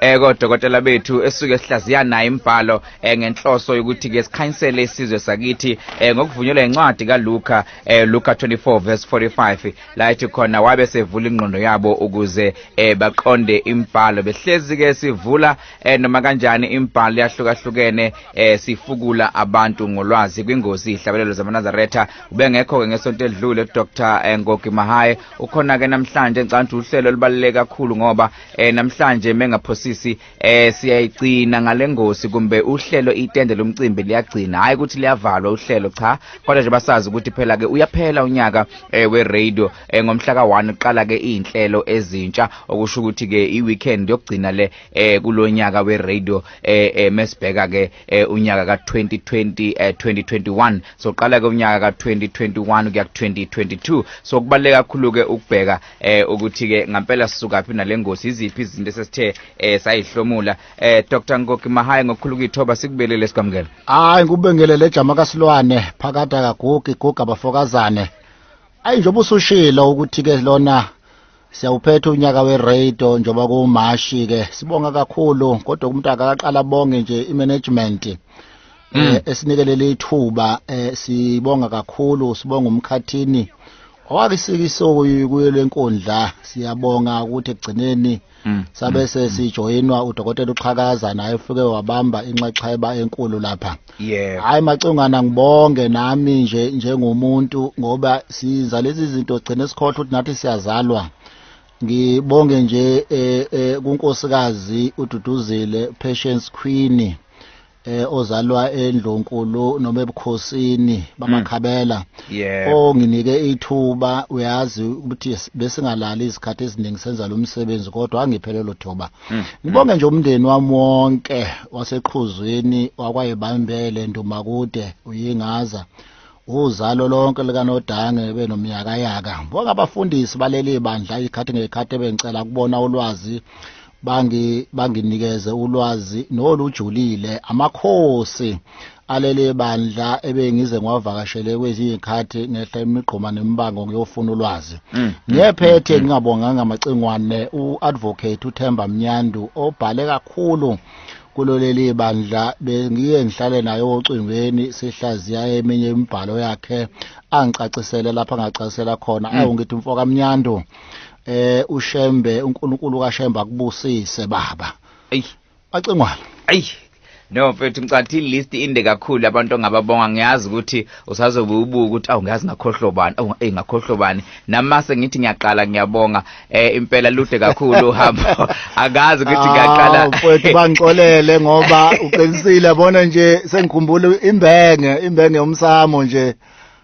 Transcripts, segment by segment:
eh kodokotela bethu esuke sihlaziya naye imbhalo eh, ngenhloso yokuthi ke sikhanyisele isizwe sakithi eh, ngokuvunyelwa incwadi kaLuka eh, Luka 24 verse 45 la ethi khona wabe sevula ingqondo yabo ukuze eh, baqonde imbhalo behlezi ke sivula eh, noma kanjani imbhalo yahlukahlukene eh, sifukula abantu ngolwazi kwingozi ihlabelelo zamanazaretha ubengekho ke ngesonto edlule Dr eh, Ngoki Mahaye ukhona ke namhlanje ngicabanga ukuthi uhlelo olubaluleke kakhulu ngoba eh namhlanje mengaphosisi eh siyayigcina ngalengosi kumbe uhlelo itende lomcimbi liyagcina hayi ukuthi liyavalwa uhlelo cha kodwa nje basazi ukuthi phela ke uyaphela unyaka eh we radio eh ngomhla ka1 uqala ke izinhlelo ezintsha okusho ukuthi ke iweekend yokugcina le eh kulonyaka we radio eh, eh mesibheka ke eh, unyaka ka 2020 eh 2021 so qala ke unyaka ka 2021 kuya 2022 so kubaleka kakhulu ke ukubheka eh ukuthi ke ngampela sisukaphi nalengozi iziphi izinto esesithe eh sayihlomula eh Dr Ngoki Mahaya ngokukhulu kuyithoba sikubelele sikwamukela hayi ngikubingelele ejama kasilwane phakathi akagugi guga bafokazane ayi njengoba usushilo ukuthi ke lona siyawuphetha unyaka weradio njengoba kuwumashi ke sibonga kakhulu kodwa umuntu akaqala bonge nje imanagement mm. eh, esinikelele ithuba eh, sibonga kakhulu sibonga umkhathini Owabisika isoko kuyo lenkundla siyabonga ukuthi ekugcineni mm. sabe mm. sesijoyinwa udokotela uXhakaza naye ufike wabamba inxexheba enkulu lapha. Yebo. Hayi macungana ngibonge nami nje njengomuntu ngoba siza lezi zinto gcine sikhohle ukuthi nathi siyazalwa. Ngibonge nje eh, eh kunkosikazi uDuduzile Patience Queen. eh ozalwa endlonkulu noma ebukhosini bamakhabela mm. yeah. onginike ithuba uyazi ukuthi besingalali izikhathi eziningi senza lo msebenzi kodwa angiphelelo thoba mm. ngibonge nje umndeni wami wonke waseqhuzwini wakwayebambele ndumakude uyingaza uzalo lonke likanodange benomyakayaka bonke abafundisi baleli bandla ikhathi ngekhathi ebengicela kubona ulwazi bangi banginikeze ulwazi nolujulile amakhosi aleli bandla ebengize ngwavakashele kwezinye ikhathi ngehla imigqoma nemibango ngiyofuna ulwazi mm, mm, ngiyephethe mm, ngingabonganga amacingwane uadvocate uThemba Mnyandu obhale kakhulu kulo leli bandla bengiye ngihlale naye ocingweni sihlaziya eminye imibhalo yakhe angicacisele lapha angacacisela khona mm. awu ngithi mfo kamnyandu eh ushembe uNkulunkulu kaShembe akubusise baba ayi bacingwana ayi No mfethu ngicathi ilist inde kakhulu abantu ongababonga ngiyazi ukuthi usazobe ubuka ukuthi awu ngiyazi ngakhohlobani awu ngakhohlobani namase ngithi ngiyaqala ngiyabonga eh impela lude kakhulu uhambo akazi ukuthi ngaqala ah, mfowethu bangixolele ngoba uqinisile bona nje sengikhumbula imbenge imbenge umsamo nje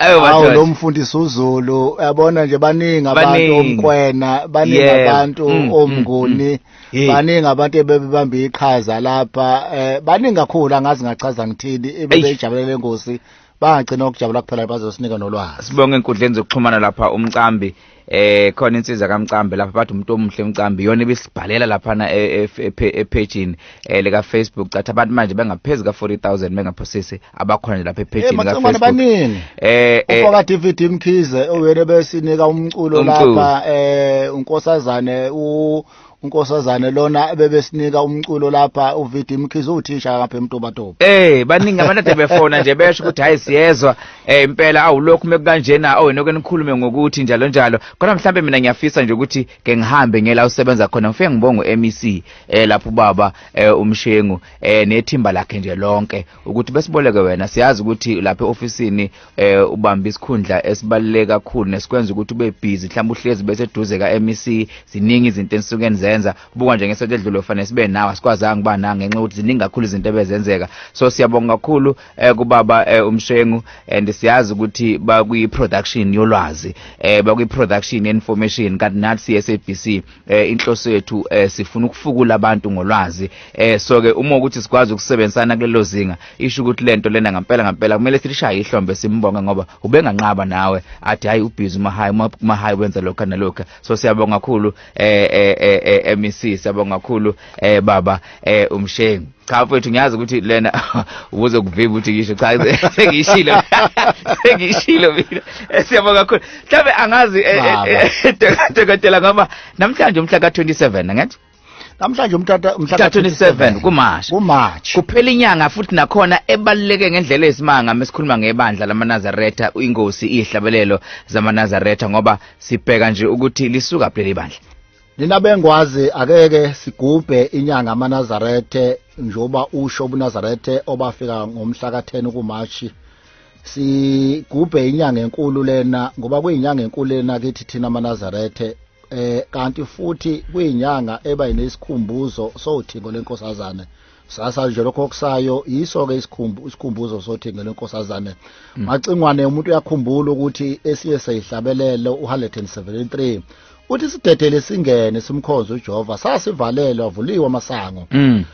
awu lo mfundisi uZulu yabona nje baningi abantu omkwena baningi abantu mm, mm, omnguni mm. baningi abantu ebebebamba iqhaza lapha eh baningi kakhulu angazi ngachaza ngithini ebebejabulele ingosi bagcina ukujabula kuphela bazosinika nolwazi sibonge enkundleni zokuxhumana lapha umcambi eh khona insizwa kamcambi lapha bathi umuntu omuhle umcambi yona ibisibhalela lapha na e, e, e, ephejini eh, leka Facebook cathi abantu manje bengaphezi ka 40000 bengaphosisi abakhona nje lapha ephejini ka Facebook baningi eh ufaka eh, DVD Mkhize oyena besinika umculo lapha eh unkosazane u unkosazane lona ebebesinika umculo lapha uVD Mkhize uthisha lapha eMtobatoba eh baningi abantu ade befona nje besho ukuthi hayi siyezwa eh impela awulokhu mekukanjena awena okenikhulume ngokuthi njalo njalo kodwa mhlambe mina ngiyafisa nje ukuthi ke ngihambe ngela usebenza khona ngifike ngibonga uMEC eh lapho baba eh umshengu eh nethimba lakhe nje lonke ukuthi besiboleke wena siyazi ukuthi lapha eofisini eh ubamba isikhundla esibaluleke kakhulu nesikwenza ukuthi ube busy mhlawumbe uhlezi bese eduze ka MEC ziningi izinto enisuke nizenza buka nje ngesothi edlule ufanele sibe nawe asikwazanga kuba na ngenxa ukuthi ziningi kakhulu izinto ebezenzeka so siyabonga kakhulu eh kubaba eh, umshengu and siyazi ukuthi bakwi production yolwazi eh bakwi production information kanti nathi SABC eh inhloso yethu eh sifuna ukufukula abantu ngolwazi eh so ke uma ukuthi sikwazi ukusebenzisana kulelo zinga isho ukuthi lento lena ngempela ngempela kumele silishaye ihlombe simbonge ngoba ubenganqaba nawe athi hayi ubhizi uma hayi uma hayi wenza lokho nalokho so siyabonga kakhulu eh eh eh MEC siyabonga kakhulu eh baba eh umshengu cha mfethu ngiyazi ukuthi lena ubuze kuvimba ukuthi ngisho cha sengishilo sengishilo mina eh, siyabonga kakhulu mhlawumbe angazi eh, eh, dokotela ngoba namhlanje umhla ka-27 angithi namhlanje umtata umhla ka-27 kumarch kumarch kuphela inyanga futhi nakhona ebaluleke ngendlela ezisimanga mesikhuluma ngebandla lamanazaretha ingosi iyihlabelelo zamanazaretha ngoba sibheka nje ukuthi lisuka phi leli bandla nina bengwazi akeke sigubhe inyanga amanazarethe njengoba usho ubunazarethe obafika ngomhla ka-10 ukumashi sigubhe inyanga enkulu lena ngoba kuyinyanga enkulu lena kithi thina amanazarethe eh kanti futhi kuyinyanga eba inesikhumbuzo sowuthingo lenkosazane sasa nje lokho okusayo yiso ke isikhumbu isikhumbuzo sothi ngelo nkosazane mm. macingwane umuntu uyakhumbula ukuthi esiye seyihlabelelo uHalleton 73 uthi sidedele singene simkhonze uJehova sasivalelwe avuliwe amasango mm.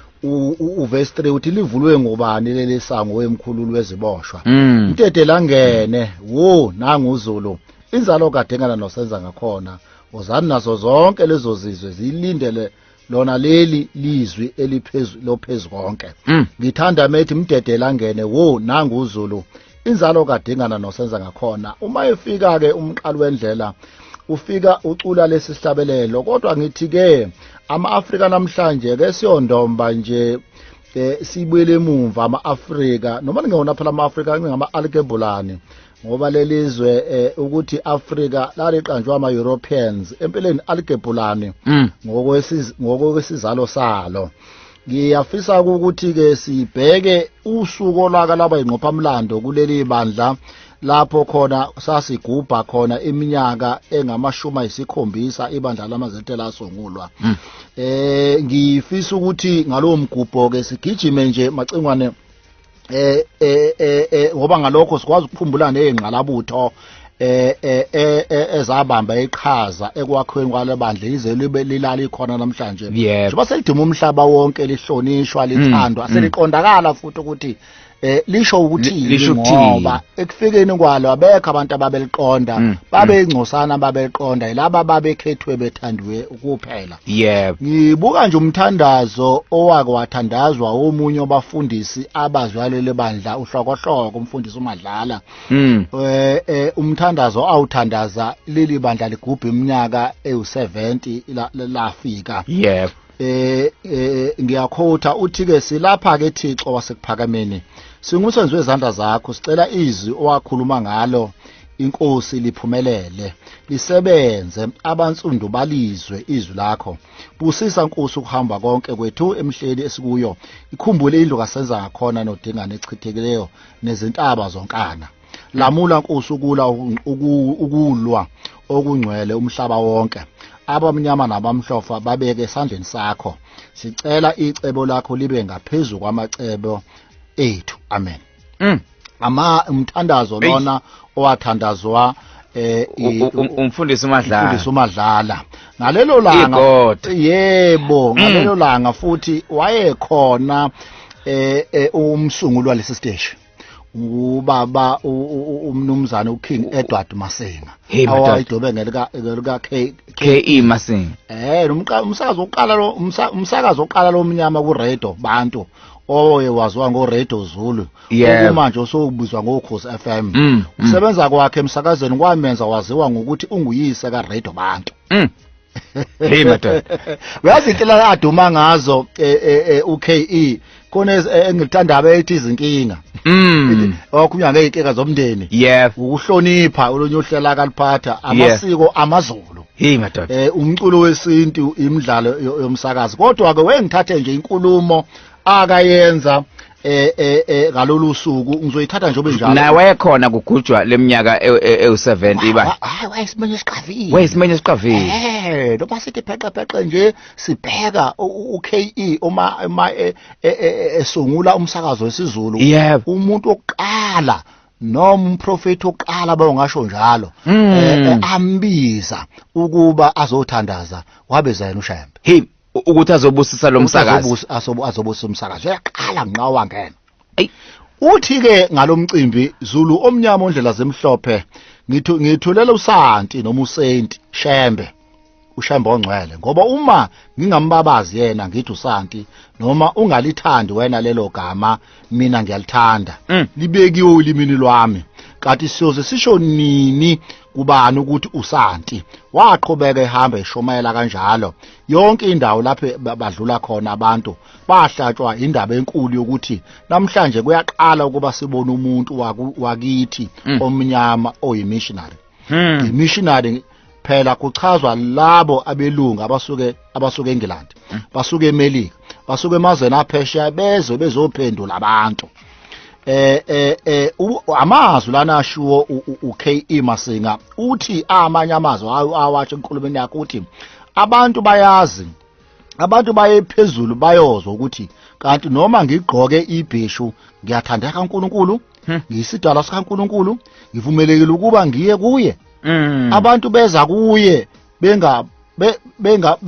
uverse 3 uthi livulwe ngobani leli sango wemkhululu weziboshwa mm. mdedele angene wo nangu uZulu inzalo kadengana nosenza ngakhona uzani nazo zonke lezo zizwe zilindele lona leli lizwi eliphezu lophezu konke mm. ngithanda methi mdedela angene wo nangu uzulu inzalo kadingana nosenza ngakhona uma efika ke umqali wendlela ufika ucula lesi sihlabelelo kodwa ngithi ke ama-afrika namhlanje ke siyondomba nje eh sibuyele emumva ama-afrika noma ningewona phela ama-afrika ngingama-alkebulani ngoba lelizwe eh, ukuthi Africa laliqanjwa ama Europeans empeleni aligebhulani mm. ngokwesiz ngokwesizalo salo ngiyafisa ukuthi ke sibheke usuku olaka laba ingqophamlando kuleli bandla lapho khona sasigubha khona iminyaka engamashumi ayisikhombisa ibandla lamazethe lasungulwa mm. eh ngifisa ukuthi ngalowo mgubho ke sigijime nje macingwane eh eh eh, eh ngoba ngalokho sikwazi ukukhumbula nezingqalabutho eh, eh, eh, eh ezabamba iqhaza ekwakhiweni kwalebandla yize libe lilala ikhona namhlanje njengoba seliduma umhlaba wonke lihlonishwa mm, lithandwa mm. seliqondakala futhi ukuthi eh lisho ukuthi ngoba ekufikeni kwalo abekho abantu ababeliqonda mm, babeyingcosana babeliqonda yilaba babekhethwe bethandiwe kuphela yebo ngibuka nje umthandazo owake wathandazwa omunye wabafundisi abazwalele bandla uhlokohloko umfundisi umadlala mm. eh, eh umthandazo awuthandaza leli bandla ligubha iminyaka ewu70 lafika yebo eh, eh ngiyakhotha uthi ke silapha ke Thixo wasekuphakameni singumsebenzi wezandla zakho sicela izwi owakhuluma ngalo inkosi liphumelele lisebenze abansundu balizwe izwi lakho busisa nkosi ukuhamba konke kwethu emhleli esikuyo ikhumbule indlu kasenza ngakhona nodingane echithekileyo nezintaba zonkana lamula nkosi ukula ukulwa okungcwele umhlaba wonke abamnyama nabamhlofa babeke esandleni sakho sicela icebo lakho libe ngaphezulu kwamacebo ethu amen mm. ama umthandazo lona owathandazwa eh umfundisi uMadlala umfundisi uMadlala ngalelo langa yebo mm. ngalelo langa futhi wayekhona eh, eh umsunguli walesi stage ubaba umnumzane uKing Edward Masenga awayidobe ngelika ngelika KE Masenga eh umsakazo oqala lo umsakazo oqala lomnyama ku radio bantu oye waziwa ngoRadio Zulu Yebo. okumanje osokubizwa ngokhosi FM Mm, mm. ukusebenza kwakhe emsakazweni kwamenza waziwa ngokuthi unguyise kaRadio Bantu Mm. Hey madoda. uyazi inhlela aduma ngazo eh, eh, eh, uKE khona ez- eh, engilithanda abethi izinkinga Mm. okhulunywa ngeyinkinga zomndeni Yebo. ukuhlonipha olunye uhlela kaliphatha amasiko amaZulu Hey madoda. Eh umculo wesintu imidlalo yomsakazi. Kodwa ke wengithathe nje inkulumo akayenza eh eh, eh ngalolu suku ngizoyithatha nje obenjalo nawe khona kugujwa leminyaka ewu70 e, e, iba hayi wayesimenya esiqavile wayesimenya esiqavile eh noma sithi pheqe pheqe nje sibheka uKE uma uma e, esungula umsakazo wesiZulu umuntu oqala noma umprofeti oqala bawungasho njalo hmm. eh, eh, ambiza ukuba azothandaza wabeza yena ushembe hi ukuthi azobusisa lo msakazi azobusisa umsakazi uyaqala nqa wangena uthi ke ngalomcimbi Zulu omnyama ondlela zemhlophe ngithu ngithulela usanti noma usenti shembe ushembe ongcwele ngoba uma ngingambabazi yena ngithi usanti noma ungalithandi wena lelo gama mina ngiyalithanda Mm. libekiwe ulimini lwami kanti siyoze sisho nini kubani ukuthi usanti waqhubeka ehamba eshumayela kanjalo yonke indawo lapho ba- badlula khona abantu bahlatshwa indaba enkulu yokuthi namhlanje kuyaqala ukuba sibone umuntu waku- wakithi Mm. omnyama oyimissionary Hmm. Imissionary phela kuchazwa labo abelungu abasuke abasuke eNgland, hmm. basuke eMelika, basuke emazweni aphesheya bezwe bezophendula abantu. eh eh eh amazwi lana ashiwo uKE Masinga uthi amanye amazwi awasho enkulumeni yakhe uthi abantu bayazi abantu baye phezulu bayozwa ukuthi kanti noma ngigqoke ibheshu ngiyathandeka uNkulunkulu hmm. ngiyisidala sikaNkulunkulu ngivumelekile ukuba ngiye kuye hmm. abantu beza kuye benga benga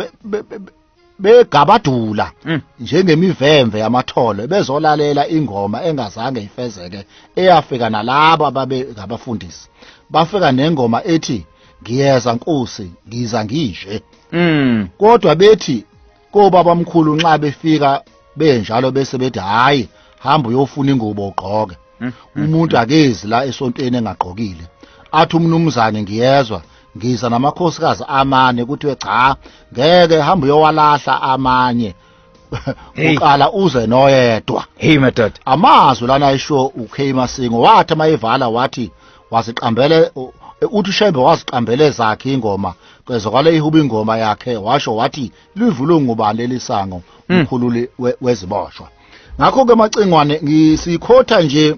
begabadula mm. njengemivemve yamathole bezolalela ingoma engazange ifezeke eyafika nalabo ababe ngabafundisi bafika nengoma ethi ngiyeza nkosi ngiza ngishe mm kodwa bethi kobabamkhulu nxa befika benjalo bese bethi hayi hamba uyofuna ingubo ugqoke hmm. umuntu akezi la esontweni engagqokile athi umnumzane ngiyezwa ngiza namakhosikazi amane kuthiwe cha ngeke hamba uyowalahla amanye Hey. uqala uze noyedwa hey madoda amazwi lana ayisho uKay Masingo wathi mayivala wathi waziqambele u- uthi Shembe waziqambele zakhe ingoma kwezokwale ihuba ingoma yakhe washo wathi livulwe ngubani leli sango umkhululi we- weziboshwa ngakho ke macingwane ngisikhotha nje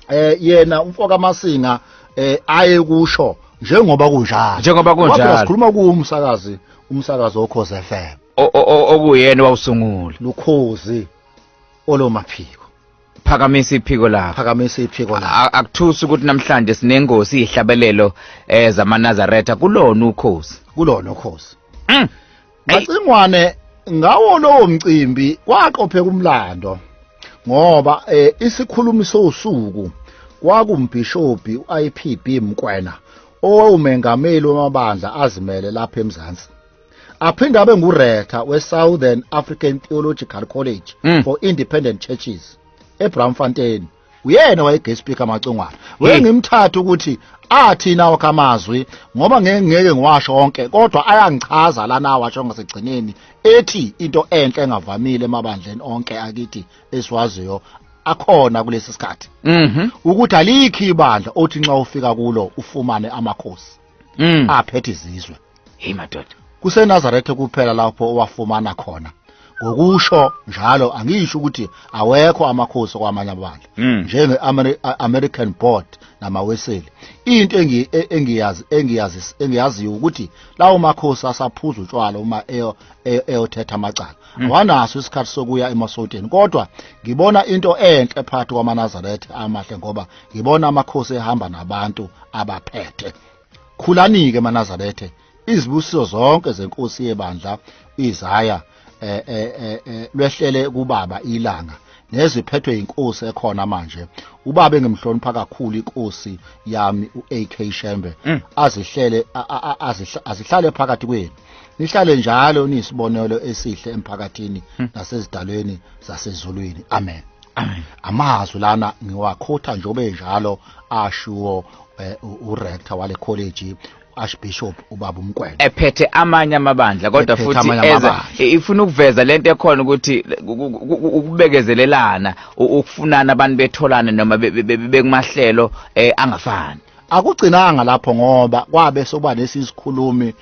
eh yena umfoka masinga eh aye kusho njengoba kunjalo njengoba kunjalo sikhuluma kuumsakazi umsakazi okhoze FM okuyena wawusungula lukhozi olomaphiko phakamisa iphiko lakho phakamisa iphiko lakho akuthusi ukuthi namhlanje sinengosi ihlabelelo eh zamanazaretha kulona ukhozi kulona ukhozi mm. Macingwane ngawo lowo mcimbi kwaqopheka umlando ngoba eh, isikhulumi sosuku kwakumbhishobhi uIPB Mkwena owawumengameli wamabandla azimele lapha eMzansi aphinde abe nguretha we-southern african theological college mm. for independent churches ebramfontein uyena waye-guest speaker macongwana weye ngimthatha ukuthi athi nawo kamazwi ngoba ngeke ngeke ngiwasho onke kodwa ayangichaza lana awasho ngasekugcineni ethi into enhle engavamile emabandleni onke akithi esiwaziyo akhona kulesi sikhathi Mhm. ukuthi alikhi ibandla othi nxa ufika kulo ufumane amakhosi Mm. aphethe izizwe hey madoda kusenazaretha kuphela lapho owafumana khona ngokusho njalo angisho ukuthi awekho amakhosi kwamanye abandla Mm. njenge-american board namaweseli into engi- e- engiyazi engiyazi engiyaziyo ukuthi lawo makhosi asaphuza utshwala uma eyo- eyo- eyothetha amacala awanaso isikhathi sokuya emasoteni kodwa ngibona into enhle phakathi kwamanazaretha amahle ngoba ngibona amakhosi ehamba nabantu abaphethe khulanike manazarethe izibusiso zonke zenkosi yebandla izaya eh, eh, eh, eh, lwehlele kubaba ilanga neziphethwe yinkosi ekhona manje ubaba engimhlonipha kakhulu inkosi yami uAK Shembe azihlele a- a- a- azihla- azihlale phakathi kwenu nihlale njalo niyisibonelo esihle emphakathini hmm. nasezidalweni zasezulwini amen amazwi lana ngiwakhotha njengoba enjalo ashiwo eh, urector wale college archbishop ubaba umkwena ephethe amanye amabandla kodwa futhi eza ifuna ukuveza lento ekhona ukuthi ukubekezelelana ukufunana abantu betholane noma bekumahlelo eh, angafani akugcinanga lapho ngoba kwabe soba nesisikhulumi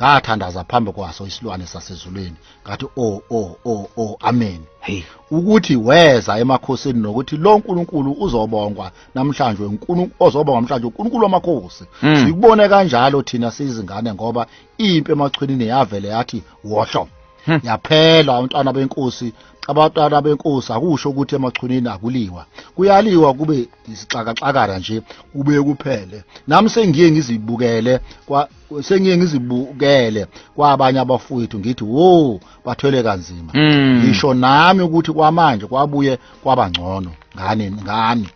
ngathandaza phambi kwaso isilwane sasezulwini ngathi o oh, o oh, o oh, o amen hey ukuthi weza emakhosini nokuthi lo uNkulunkulu uzobongwa namhlanje uNkulunkulu ozobongwa namhlanje uNkulunkulu wamakhosi hmm. sikubone kanjalo thina sizingane ngoba impi emachwini yavele yathi wohlo hmm. yaphela abantwana benkosi abantwana benkosi akusho ukuthi emachunini akuliwa kuyaliwa kube isixakaxakara nje kube kuphele nami sengiye ngizibukele sengiye ngizibukele kwabanye abafowethu ngithi wo bathwele kanzima Mm. ngisho nami ukuthi kwamanje kwabuye kwabangcono ngani ngani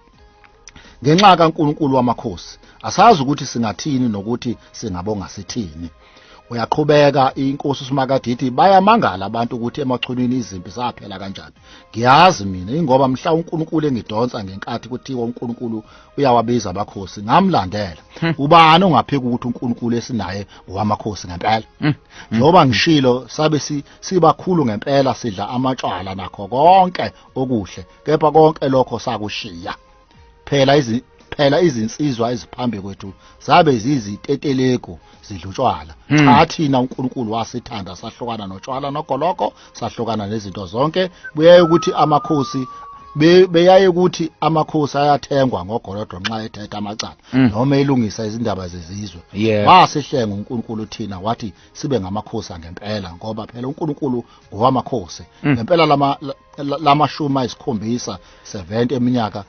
ngenxa kaNkulunkulu wamakhosi asazi ukuthi singathini nokuthi singabonga sithini uyaqhubeka inkosi uSimakadithi bayamangala abantu ukuthi emachunwini izimpi zaphela kanjani ngiyazi mina ingoba mhla uNkulunkulu engidonsa ngenkathi kuthiwa uNkulunkulu uyawabiza amakhosi ngamlandela hmm. ubani ongaphika ukuthi uNkulunkulu esinaye ngowamakhosi ngempela hmm. Hmm. njoba ngishilo sabe sibakhulu ngempela sidla amatshwala nakho konke okuhle kepha konke lokho sakushiya phela izi phela izinsizwa eziphambi kwethu zabe ziziteteleko zidlutshwala cha thina uNkulunkulu wasithanda sahlukana notshwala nogoloko sahlukana nezinto zonke kuyaye ukuthi amakhosi be- beyaye ukuthi amakhosi ayathengwa ngogolodo nxa ethetha amacala Mm. noma elungisa izindaba zezizwe Yeah. wasihlenga uNkulunkulu thina wathi sibe ngamakhosi angempela ngoba phela uNkulunkulu ngowamakhosi Mm. ngempela lama la- la- lamashumi ayisikhombisa 70 eminyaka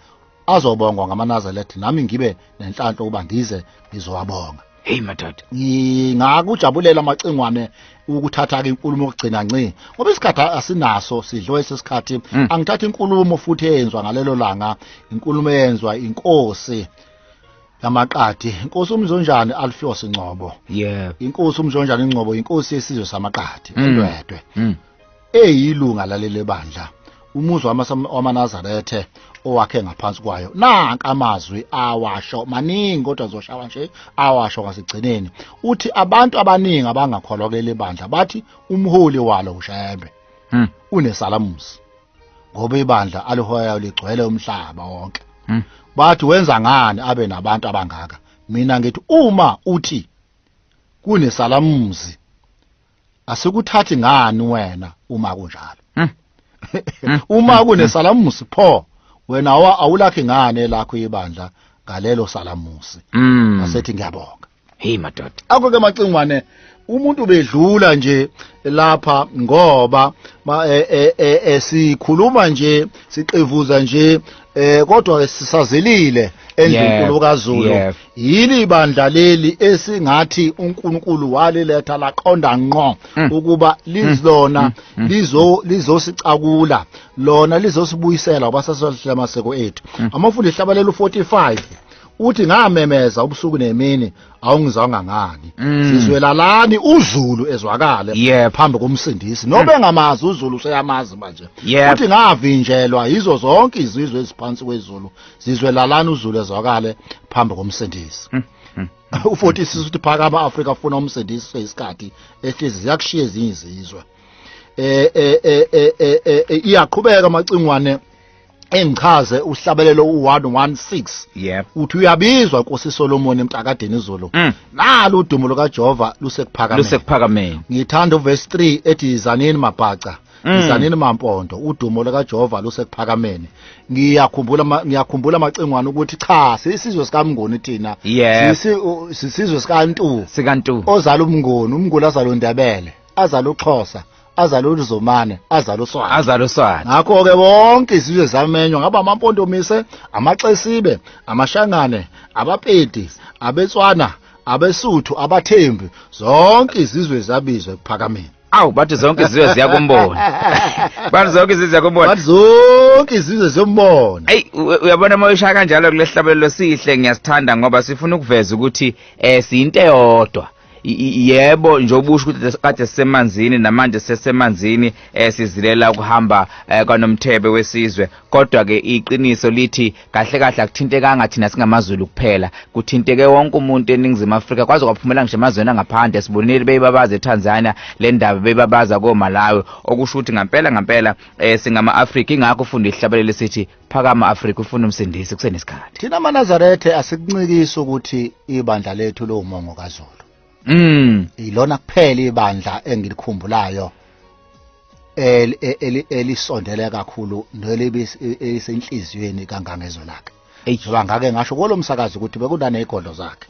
azobongwa ngamanazaretha nami ngibe nenhlanhla ukuba ngize ngizowabonga heyi madoda ngingakujabulela amacingwane ukuthatha-ke inkulumo okugcina nci ngoba isikhathi asinaso sidliwe sesikhathi mm. angithatha inkulumo futhi eyenzwa ngalelo langa inkulumo eyenzwa inkosi yamaqadi inkosi umzonjani alfios ngcobo yeah inkosi umzonjani ngcobo inkosi yesizwe samaqadi mm. endwedwe mm. eyilunga laleli bandla umuzi wama- wamanazarethe owakhe ngaphansi kwayo nanka amazwi awasho maningi kodwa zoshawa nje awasho ngasigcineni uthi abantu abaningi abangakholwa kuleli bandla bathi umholi walo ushembe Hmm. unesalamusi ngoba ibandla alihoyayo ligcwele umhlaba wonke Hmm. bathi wenza ngani abe nabantu abangaka mina ngithi uma uthi kunesalamuzi asikuthathi ngani wena uma kunjalo hmm. Hmm. uma hmm. kunesalamusi pho wena awulakhi ngani elakho ibandla ngalelo salamusi asethi ngiyabonga hey madoda akho ke macingwane umuntu bedlula nje lapha ngoba e, e, e, esikhuluma nje siqivuza nje eh kodwa sisazelile endlunkulu kaZulu yini ibandla leli esingathi uNkulunkulu waliletha laqonda ngqo mm. ukuba mm. lizona mm. lizo lizosicakula lona lizosibuyisela ubasasihlela amaseko ethu amafundisi hlabalela u45 uthi ngamemeza ubusuku nemini awungizwanga ngani mm. sizwelalani uzulu ezwakale yep. phambi komsindisi nobe mm. ngamazi uzulu useyamazi manje yep. uthi ngavinjelwa yizo zonke izizwe eziphansi kwezulu sizwe lalani uzulu ezwakale phambi komsindisi hmm, hmm, hmm. u-40 sisuthi phakama afrika afuna umsindisi seyisikhathi ehlezi ziyakushiya ezinye izizwe eh, eh, eh, iyaqhubeka amacingwane engichaze uhlabelelo u116 yep uthi uyabizwa nkosi Solomon emtakadeni izolo mm. nalo udumo lukaJehova lusekuphakameni lusekuphakameni ngithanda uverse 3 ethi izanini mabhaca Mm. Mzanini Mampondo udumo likaJehova lusekuphakameni ngiyakhumbula ma- ngiyakhumbula amacingwane ukuthi cha sisizwe sikaMnguni thina Yebo. Sisi- u- sisizwe sikaNtu sikantu ozala umnguni umnguni azala uNdebele azala uXhosa azala uLuzomane azala uSwati azala uswana ngakho ke bonke izizwe zamenywa ngaba amampondomise amaxesibe amashangane abapedi abetswana abesuthu abathembi zonke izizwe zabizwe ekuphakameni awu bathi zonke izizwe ziyakumbona bathi zonke izizwe ziyakumbona bathi zonke izizwe ziyombona ayi uyabona uma ushaya kanjalo kulehlabelelo sihle ngiyasithanda ngoba sifuna ukuveza ukuthi eh siyinto eyodwa yebo nje obusho ukuthi kade sisemanzini namanje sisemanzini eh sizilela ukuhamba eh, kwanomthebe wesizwe kodwa ke iqiniso lithi kahle kahle akuthintekanga thina singamazulu kuphela kuthinteke wonke umuntu eningizimu afrika kwaze kwaphumela ngisho emazweni angaphandle sibonile beyibabaza etanzania le ndaba beyibabaza komalawi okusho ukuthi ngampela ngampela um singama-afrika ingakho ufunda ihlabelele sithi phakama afrika ufuna umsindisi kusenesikhathi thina manazarethe asikuncikisi ukuthi ibandla lethu lowumongo kazulu mm ilona kuphela ibandla engilikhumbulayo elisondele kakhulu nelibisenhliziyweni kangangezwe lakhe ngoba ngake ngasho kulo msakazi ukuthi bekunaney'godlo zakhe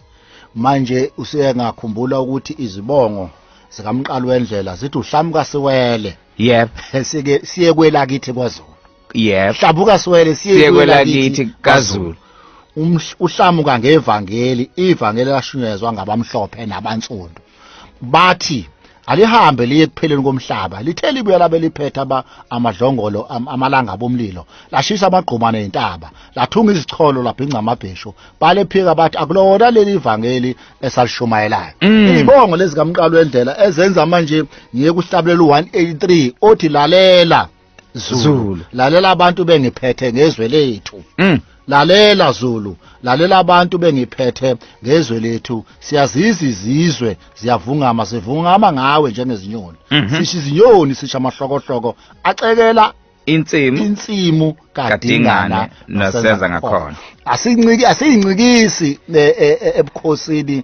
manje usengakhumbula ukuthi izibongo zikamqalo wendlela zithi uhlamuka siwele yebo siye kwelakithi kwazulu yebo hlabuka siwele siye siye kwelakithi kazulu Umhl- uhlamuka ngevangeli ivangeli lashunyezwa ngabamhlophe nabansundu bathi alihambe liye kupheleni komhlaba lithe libuya labe liphetha ba amadlongolo am, amalanga bomlilo lashisa amagquma nezintaba lathunga izicholo labhinca amabheshu balephika bathi akulona leli ivangeli esalishumayelayo Mm. izibongo lezi kamqalo wendlela ezenza manje ngiye kuhlabulela u-183 othi lalela Zulu. Zulu. Lalela abantu bengiphethe ngezwe lethu. Mm. Lalela Zulu, lalela abantu bengiphethe ngezwe lethu. Siyazizi izizwe, ziyavungama, sivungama ngawe njengezinyoni. Mhm. Sisho izinyoni, sisho amahlokohloko acekela Insimu insimu kadingana kadingane nasenza ngakhona. asinciki asiyincikisi eh, eh, eh, ebukhosini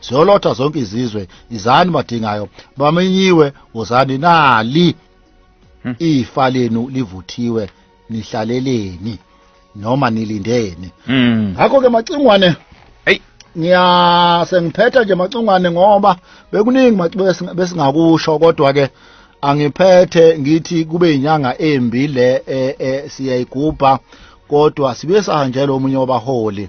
ziyolotha zonke izizwe izani madingayo bamenyiwe wozani nali hmm. ifa lenu livuthiwe nihlaleleni noma nilindeni hmm. ngakho ke macingwane hey ngiya sengiphetha nje macingwane ngoba bekuningi besingakusho kodwa ke angiphethe ngithi kube inyanga embi le e, e, siyayigubha kodwa sibe sahanjelwa omunye wabaholi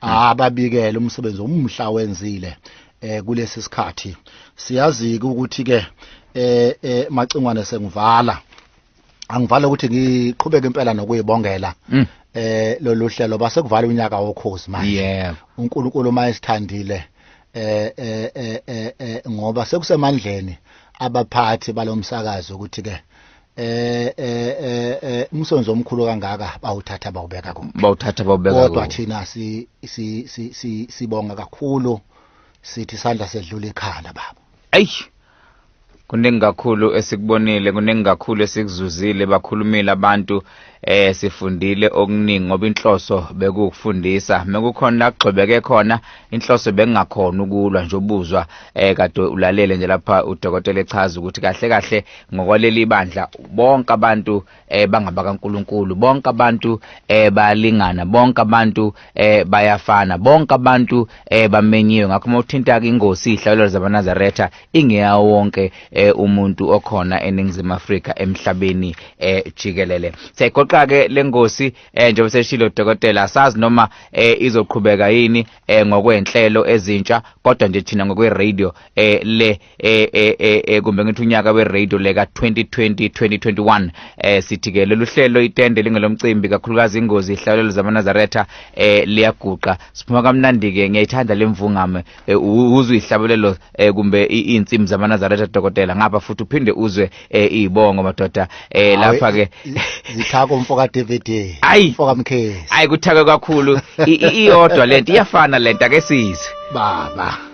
ababikele umsebenzi omhla wenzile eh kulesi sikhathi siyazi ukuthi ke eh, eh macingwane sengivala angivala ukuthi ngiqhubeke impela nokuyibongela mm. eh lolu hlelo base kuvala unyaka wokhozi manje yeah. uNkulunkulu uma esithandile eh, eh eh eh ngoba sekusemandleni abaphathi balomsakazo ukuthi ke eh eh eh, eh umsonzo omkhulu kangaka bawuthatha bawubeka ku bawuthatha bawubeka kodwa thina si si si sibonga kakhulu sithi sandla sedlula ikhala baba ayi kuningi kakhulu esikubonile kuningi kakhulu esikuzuzile bakhulumile abantu Eh sifundile okuningi ngoba inhloso bekukufundisa mekukhona la kugxobeke khona inhloso bengingakhona ukulwa nje ubuzwa eh kade ulalele nje lapha udokotela echaza ukuthi kahle kahle ngokwaleli bandla bonke abantu eh bangaba kaNkuluNkulu bonke abantu eh bayalingana bonke abantu eh bayafana bonke abantu eh bamenyiwe ngakho uma uthinta ke ingosi ihlayo zabanazaretha ingeya wonke eh umuntu okhona eningizimu Afrika emhlabeni eh jikelele segoqa ke lengosi eh njengoba seshilo dokotela asazi noma eh izoqhubeka yini eh ngokwenhlelo ezintsha kodwa nje thina ngokwe radio eh le eh eh eh, eh kumbe ngithi unyaka weradio leka 2020 2021 eh sithi ke lolu hlelo itende lingelomcimbi kakhulukazi ingozi ihlalelo zamanazaretha eh liyaguqa siphuma kamnandi ke ngiyayithanda lemvungame eh, u- uzwe ihlabelelo eh kumbe i- iinsimu zamanazaretha dokotela ngapha futhi uphinde uzwe eh izibongo madoda eh lapha ke zithako mfoka DVD Ayi. mfoka Mkhezi ayi kuthakwe kakhulu I- i- iyodwa lento iyafana lento ake sizwe baba